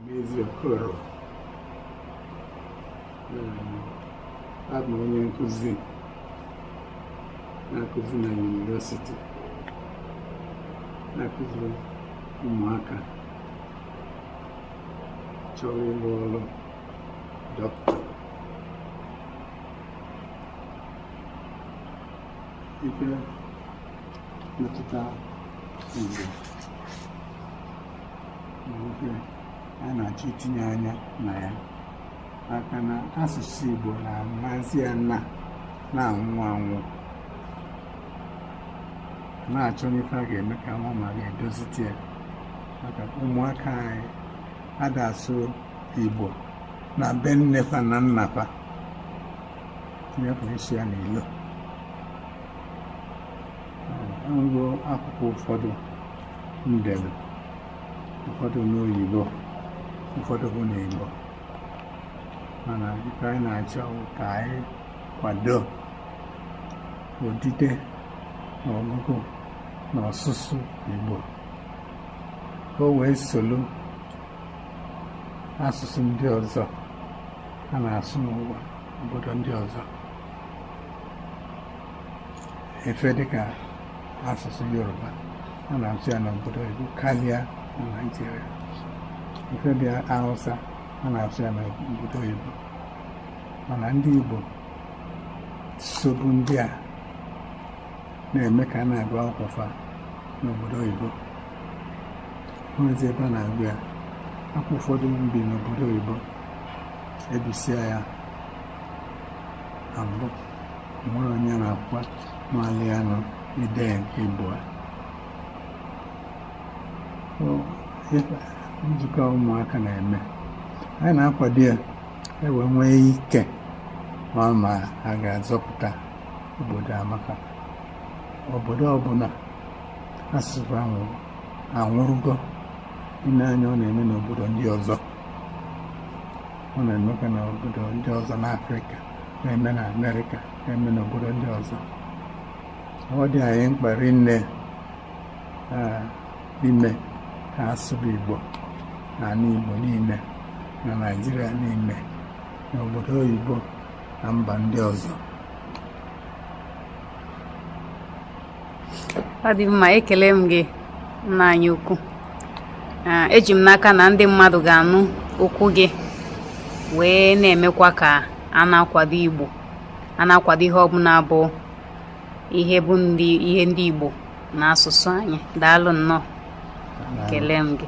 Anezi Okoro abụ m onye nkụzi na-akụzi na yunivesiti na-akụziri ụmụaka chọrọ ịrụ ọrụ dọkịta ife metụta Igbo a na-achọ itinye anya na ya maka na asụsụ Igbo na-amazi ya na na-anwụ anwụ na-achọ n'ife a ga-eme ka a nwaa ma a ga-edozite ya maka ụmụaka anyị ada asụ Igbo na be nne fa na nna fa tinye isi ya n'ilo akwụkwọ ụfọdụ m delu ụfọdụ n'oyibo ụfọdụ bụ n'igbo mana ife anyị na-achọ ka anyị kwado odide na ọgụgụ na ọsụsụ igbo ka o wee solu asụsụ ndị ọzọ a na-asụ n'ụwa obodo ndị ọzọ ife dịka asụsụ yoruba a na-asụ ya n'obodo oyibo karịa na naijiria ife dịka hausa a na-asụ ya n'obodo oyibo mana ndị igbo sobu ndị a na-eme ka a na-agụ akwụkwọ fa n'obodo oyibo o nwezi ebe a na-agụ ya akwụkwọ ụfọdụ m bi n'obodo oyibo e bisịa ya na mbụ nwere onye na-akwa mali ya nọ ide ya nke ịbụa nzukọ ụmụaka na-eme anyị na-akwado ya e wee nwee ike ma ma a ga-azọpụta obodo a maka obodo ọbụla asụsụ ahụ anwụrụgo i lee anya ọ na-eme n'obodo ndị ọzọ ọ na-emekwa n'obodo ndị ọzọ n'afrịka na-eme na Amerịka na-eme n'obodo ndị ọzọ ọ dị anyị mkpa rinne ime ka a sụba Igbo na ala Igbo niile na Naịjirịa niile na obodo oyibo na mba ndị ọzọ ọ dị mma ekele m gị nna anyị ukwu eji m n'aka na ndị mmadụ ga-anụ okwu gị wee na-emekwa ka a na-akwado Igbo a na-akwado ihe ọbụla bụ ihe ndị Igbo na asụsụ anyị daalụ nnọọ ekele m gị